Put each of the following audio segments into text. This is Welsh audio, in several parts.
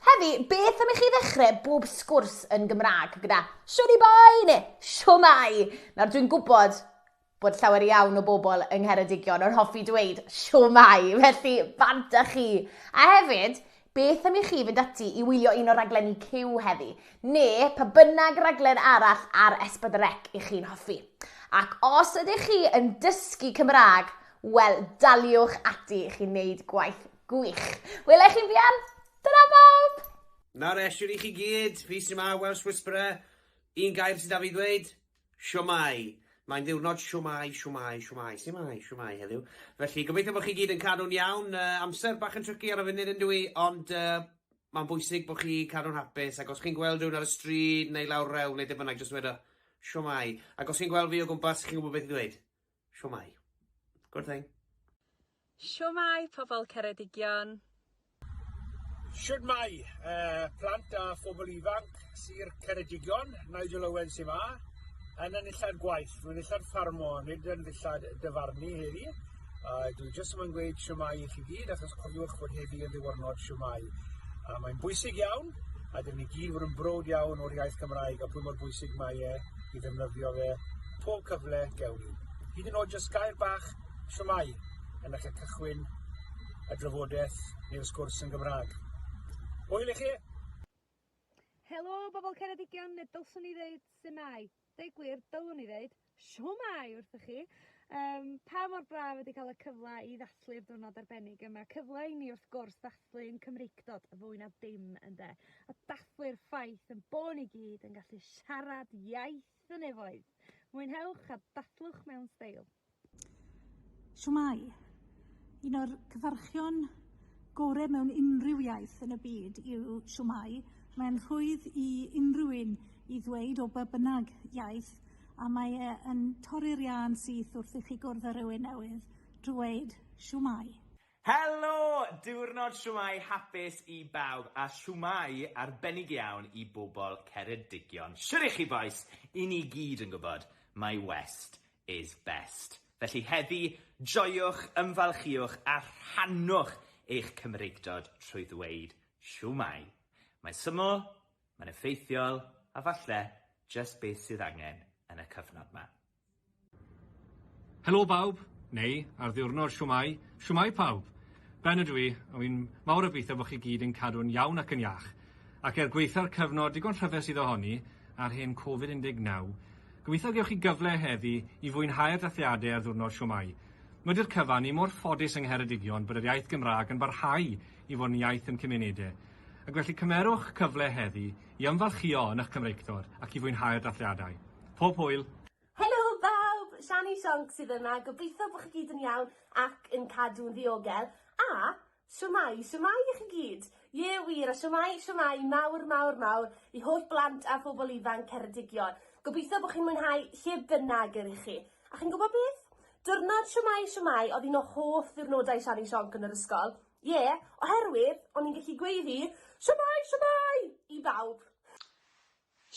Heddi, beth am i chi ddechrau bob sgwrs yn Gymraeg gyda Shwni boi neu Shwmai? Nawr dwi'n gwybod bod llawer iawn o bobl yng Ngheredigion yn hoffi dweud Shwmai, felly bant â chi! A hefyd, beth am i chi fynd ati i wylio un o raglenni Cyw heddi, neu pa bynnag raglen arall ar S4C i chi'n hoffi? Ac os ydych chi yn dysgu Cymraeg, wel daliwch ati i chi wneud gwaith Gwych. Wela i chi'n fuan. Dyna bob! Nawr esiwn i chi gyd, fi sy'n ma Welsh Whisperer, un gair sydd da fi ddweud, siomai. Mae'n ddiwrnod siomai, siomai, siomai, siomai, siomai heddiw. Felly, gobeithio bod chi gyd yn cadw'n iawn. Uh, amser bach yn trycu ar y funud yn dwi, ond uh, mae'n bwysig bod chi cadw'n hapus, ac os chi'n gweld rhywun ar y stryd neu lawr rewl neu dim bynnag, jyst dweud o, siomai. Ac os chi'n gweld fi o gwmpas, chi'n gwybod beth i ddweud. Shwmae. Good thing. Shwmae pobl Ceredigion. Shwmae plant a phobl ifanc Sir Ceredigion, Nigel Owen Sima, yn y nillad gwaith, rwy'n nillad ffarmo, nid yn ddillad dyfarnu heddi. Uh, dwi jyst yma'n gweud siwmai i chi gyd, achos cofiwch bod heddi yn ddiwrnod siwmai. Uh, mae'n bwysig iawn, a dyn ni gyd fod yn brod iawn o'r iaith Gymraeg a pwy mor bwysig mae e i ddefnyddio fe pob cyfle gewn ni. Hyd yn oed jyst gair bach shwmae yn eich cychwyn y drafodaeth neu'r sgwrs yn Gymraeg. Hwyl i chi! Helo, bobl Ceredigion, neu dylswn i ddeud Simau. Deu gwir, dylwn i ddeud Siomai wrth chi. Um, pa mor braf ydy cael y cyfle i ddathlu'r diwrnod arbennig yma. Cyfle i ni wrth gwrs ddathlu dathlu ein Cymreictod fwy na dim ynde? A dathlu'r ffaith yn bo' ni gyd yn gallu siarad iaith y nefoedd. Mwynhewch a dathlwch mewn steil. Shwmae! Un o'r cyfarchion gore mewn unrhyw iaith yn y byd yw shwmae. Mae'n rhwydd i unrhyw un i ddweud o be' bynnag iaith, a mae e yn torri'r iâ'n syth wrth i chi gwrdd â rywun newydd, drwy weud shwmae. Helo! Diwrnod shwmae hapus i bawb a shwmae arbennig iawn i bobl Ceredigion. Shwt y'ch chi bois? I ni gyd yn gwybod mai West is best. Felly heddi, joiwch, ymfalchiwch a rhannwch eich Cymreictod trwy ddweud shwmae. Mae'n syml, mae'n effeithiol a falle jyst beth sydd angen yn y cyfnod 'ma. Helo bawb, neu ar ddiwrnod shwmae, shwmae pawb! Ben ydw i, a wi'n mawr obeithio bod chi gyd yn cadw'n iawn ac yn iach. Ac er gwaetha'r cyfnod digon rhyfedd sydd ohoni, a'r hen Covid 19, gobeithio gewch chi gyfle heddi i fwynhau'r dathliadau ar ddiwrnod shwmae. Wedi'r cyfan, ni mor ffodus yng Ngheredigion bod yr iaith Gymraeg yn barhau i fod yn iaith yn cymunedau. Ac felly cymerwch cyfle heddi I ymfalchïo yn eich Cymreictod ac i fwynhau'r dathliadau. Pob hwyl! Helo bawb! Shani Shonks sydd yma, gobeithio bod chi gyd yn iawn ac yn cadw'n ddiogel, a shwmae, shwmae i chi gyd! Ie wir, a shwmae, shwmae mawr, mawr, mawr i holl blant a phobl ifanc Ceredigion. Gobeithio bod chi'n mwynhau lle bynnag yr ych chi. A chi'n gwybod beth? Diwrnod shwmae, shwmae oedd un o hoff ddiwrnodau Shani Shonc yn yr ysgol. Ie, oherwydd o'n i'n gallu gweiddi 'Shwmae! Shwmae! i bawb!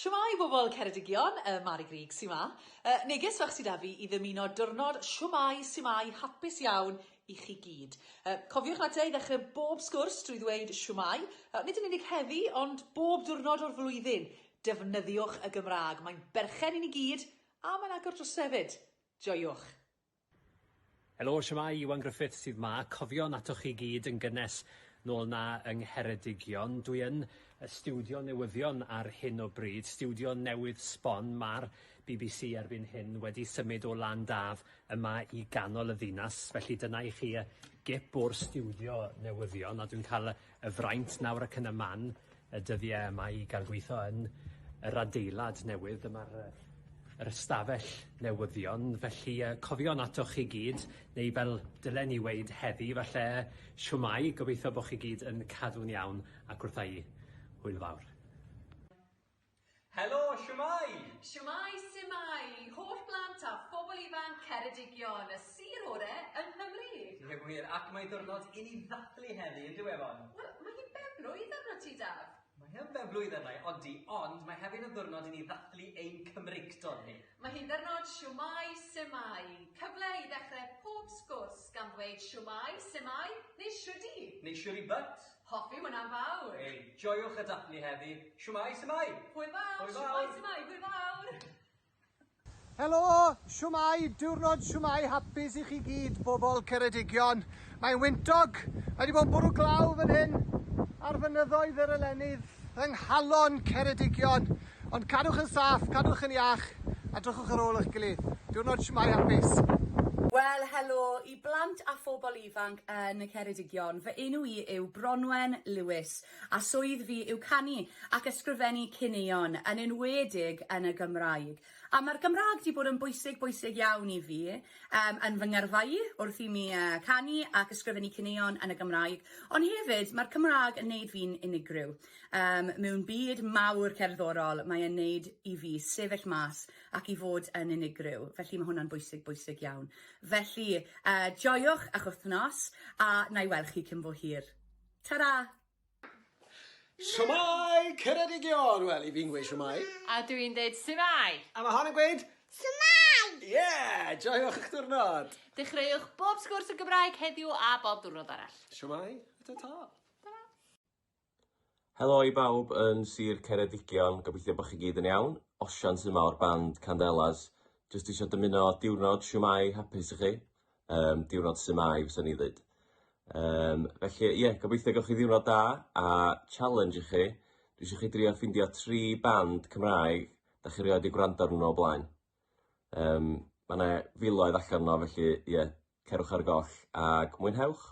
Shwmae bobl Ceredigion, yy Mari Grug sy 'ma. Yy neges fach sy 'da fi i ddymuno diwrnod shwmae sumai hapus iawn i chi gyd. Yy cofiwch na te i ddechrau bob sgwrs drwy ddweud shwmae, yy nid yn unig heddi ond bob diwrnod o'r flwyddyn. Defnyddiwch y Gymraeg, mae'n berchen i ni gyd a mae'n agor drysau 'fyd. Joiwch! Helo, shwmae, Iwan Griffiths sydd 'ma. Cofion atoch chi gyd yn gynnes nôl 'na yng Ngheredigion. Dwi yn y stiwdio newyddion ar hyn o bryd, stiwdio newydd sbon. Ma'r bbc erbyn hyn wedi symud o Lan Daf yma i ganol y ddinas, felly dyna i chi y gip o'r stiwdio newyddion, a dwi'n cael y fraint nawr ac yn y man y dyddiau yma i gael gweithio yn yr adeilad newydd. Dyma'r yy yr ystafell newyddion, felly yy cofion atoch chi gyd, neu fel dylen ni weud heddi falle, shwmae, gobeithio bo' chi gyd yn cadw'n iawn ac wrth a'u hwyl fawr. Helo, shwmae! Shwmae, su'mae i holl blant a phobl ifanc Ceredigion, y sir ore yng Nghymru! Diddorol gwir, ac mae diwrnod i ni ddathlu heddi, yn dyw e, Fon? Wel, mae hi'n ben-blwydd arnot ti, Daf! Mae yn ben-blwydd arna-i, odi, ond mae hefyd yn ddiwrnod i ni ddathlu ein Cymreictod ni. Mae hi'n ddiwrnod shwmae, su'mae, cyfle i ddechrau pob sgwrs gan ddweud shwmae, su'mae, neu shwdi! Neu shwdi but! Hoffi hwnna yn fawr! Hei, joiwch y daflu heddi! Shwmae, Symai! Hwyl fawr! Hwyl fawr! Shwmae, Symai! Hwyl fawr! Helo! Shwmae! Diwrnod shwmae hapus i chi gyd, bobl Ceredigion. Mae'n wyntog, mae wedi bod yn bwrw glaw fan hyn ar fynyddoedd yr Elenydd, yng nghalon Ceredigion. Ond cadwch yn saff, cadwch yn iach, a drychwch ar ôl eich gilydd. Diwrnod shwmae hapus! Wel, helo i I blant a phobl ifanc yn y Ceredigion, fy enw i yw Bronwen Lewis a swydd fi yw canu ac ysgrifennu caneuon, yn enwedig yn y Gymraeg. A mae'r Gymraeg 'di bod yn bwysig, bwysig iawn i fi yym yn fy ngyrfa i wrth i mi yy canu ac ysgrifennu caneuon yn y Gymraeg, ond hefyd mae'r Cymraeg yn neud fi'n unigryw. Yym mewn byd mawr cerddorol mae e'n neud i fi sefyll mas ac i fod yn unigryw, felly ma' hwnna'n bwysig, bwysig iawn. Felly, uh, joiwch a'ch wythnos, a na i weld chi cyn bo hir. Ta-ra! Siwmai, Ceredigion! Wel, i fi'n gweud siwmai. A dw i'n deud siwmai! A mae hon yn gweud... Siwmai! Ie! Yeah! Joiwch eich diwrnod! Dechreuwch bob sgwrs yn Gymraeg heddiw a bob diwrnod arall. Siwmai, a ta-ta! Helo i bawb yn Sir Ceredigion, gobeithio bod chi gyd yn iawn. Osian sy' 'ma o'r band Candelas. Jyst isio dymuno diwrnod siwmai hapus i chi, um, diwrnod siwmai fysa ni ddweud. Um, felly ie, yeah, gobeithio gawch chi ddiwrnod da a challenge i chi, dwi eisiau chi drio ffindio tri band Cymraeg da chi rioed wedi gwrando arnyn nhw o blaen. Um, mae yna filoedd allan yno, felly ie, yeah, cerwch ar goll ac mwynhewch!